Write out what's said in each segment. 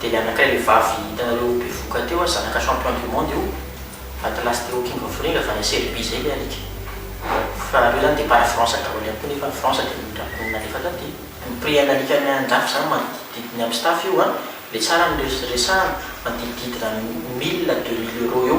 Dia le anakay le vavy hitanareo bevoka teo a, zanaka champion du monde io, atlas teo king of ring avy any serbie zay le alika. Fa reo zany depart france daholo ihany koa nefa ny france dia nondrapiny nalefa taty. Ny prix an'alika any andrafy zany manodidididina amin'ny staff io a, le tsara no resahana, manodidididina mille à deux mille euros eo.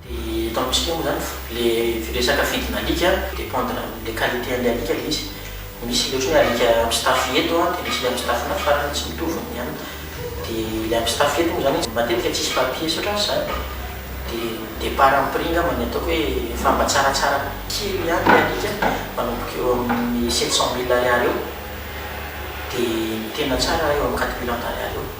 Dia eto amintsika moa izany ilay resaka vidina alika dépendre amin'ilay qualité an'ilay alika ilay izy. Misy ilay ohatry ny hoe alika mpistafy eto dia misy ilay mpistafy any farany, tsy mitovy ny any. Dia ilay mpistafy eto moa izany izy matetika tsisy papiers ohatran'ny izany dia de par amin'ny prix angamba ny ataoko hoe efa mba tsaratsara kely ihany ilay alika manomboka eo amin'ny sept cent mille ariary eo dia ny tena tsara eo amin'ny quatre mille en d'ariary eo.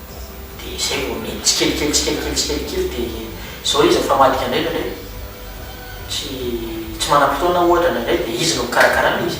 Dia izay vao mety tsikelikely tsikelikely tsikelikely dia izao izy rehefa madika indray indraindray tsy tsy manam-potoana ohatra indraindray dia izy no mikarakara an' izy.